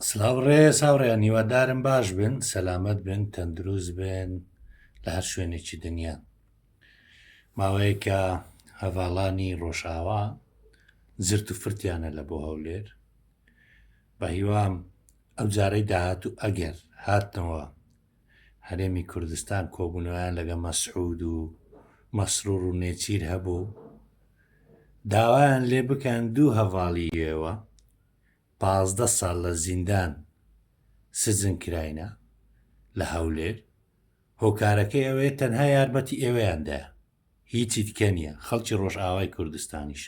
سلاو ڕێز هاوڕێیان هیوادارم باش بن سەلامت بن تەندروست بن لە هەر شوێنێکی دنیا ماوەیەکە هەڤاڵانی ڕۆژاوا زرت و فرتیانە لە بۆ هەولێر بە هیوام ئەو جارەی داهات و ئەگەر هاتنەوە هەرێمی کوردستان کۆبوونەوەیان لەگە مەسعود و مەسرور و نێچیر هەبوو داوایان لێ بکەن دوو هەڤاڵی یێوە پازدە ساڵ لە زیندان سزن کراینە لە هەولێر هۆکارەکەی ئەوەیە تەنها یارمەتی ئێوەیاندایە هیچی تکە نیە خەڵکی ڕۆژئاوای کوردستانیش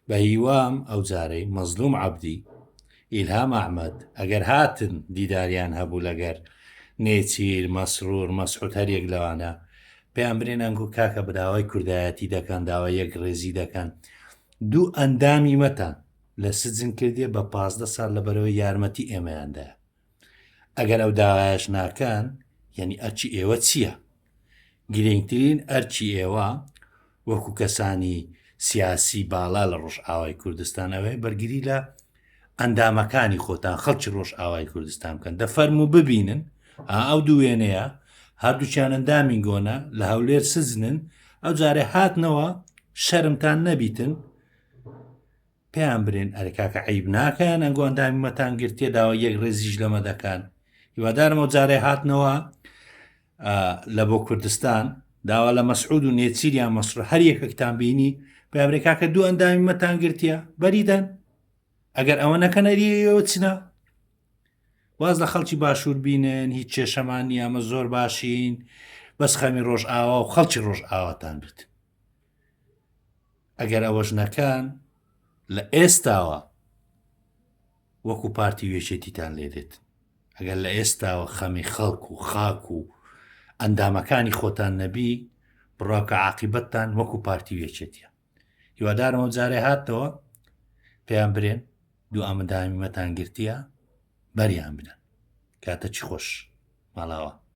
بە هیوام ئەو جارەی مەزلوم عەبدی ئیلهام ئەحمد ئەگەر هاتن دیداریان هەبوو لەگەر نێچیر مەسرور مەسعود هەریەک لەوانە پێیان برێن ئەنگو کاکە براوای کوردایەتی دەکەن داوای یەک ڕێزی دەکەن دوو ئەندامی مەتان لە سجن کردێ بە پازدە سال لە بەرەوەی یارمەتی ئێمەیاندا ئەگەر ئەو داوایش ناکەن یعنی ئەرچی ئێوە چییە؟ گرنگترین ئەرچی ئێوە وەکو کەسانی سیاسی باڵا لە ڕۆژئاوای کوردستان ئەوەیە بەرگری لە ئەندامەکانی خۆتان خەڵکی ڕۆژئاوای کوردستان بکەن دەفەرم و ببینن ئەو دووێنەیە هەردووچیان ئەندامین گۆنە لە هەولێر سزنن ئەو جارێ هاتنەوە شەرمتان نەبیتن پێیان برێن ئەرێ کاکە عیب ناکەیان ئەنگۆ ئەندامی مەتانگرتیە داوە یەک ڕێزیش لەمە دەکەن هیوادارمە جارێ هاتنەوە لە بۆ کوردستان داوا لە مەسعود و نێچیریان مەسرور هەر یەکەکتان بینی پێبرێ کاکە دوو ئەندامی مەتانگرتیە بەریدەن ئەگەر ئەوە نەکەنەریەوە چنا واز لە خەڵکی باشوور بینن هیچ کێشەمان نیامە زۆر باشین بەس خەمی ڕۆژ ئاوا و خەڵکی ڕۆژ ئاواتان بێت ئەگەر ئەوەش نەکان لە ئێستاوە وەکو پارتی وێچێتیتان لێدێت ئەگەر لە ئێستاوە خەمی خەڵک و خاک و ئەندامەکانی خۆتان نەبی بڕاکە عقیبەتتان وەکو پارتی وێچێتە هیوادارەوە جارێ هاتەوە پێیان برێن دوو ئامدامیمەتان گرتیە بەریان بدەن کاتە چی خۆش ماڵاوە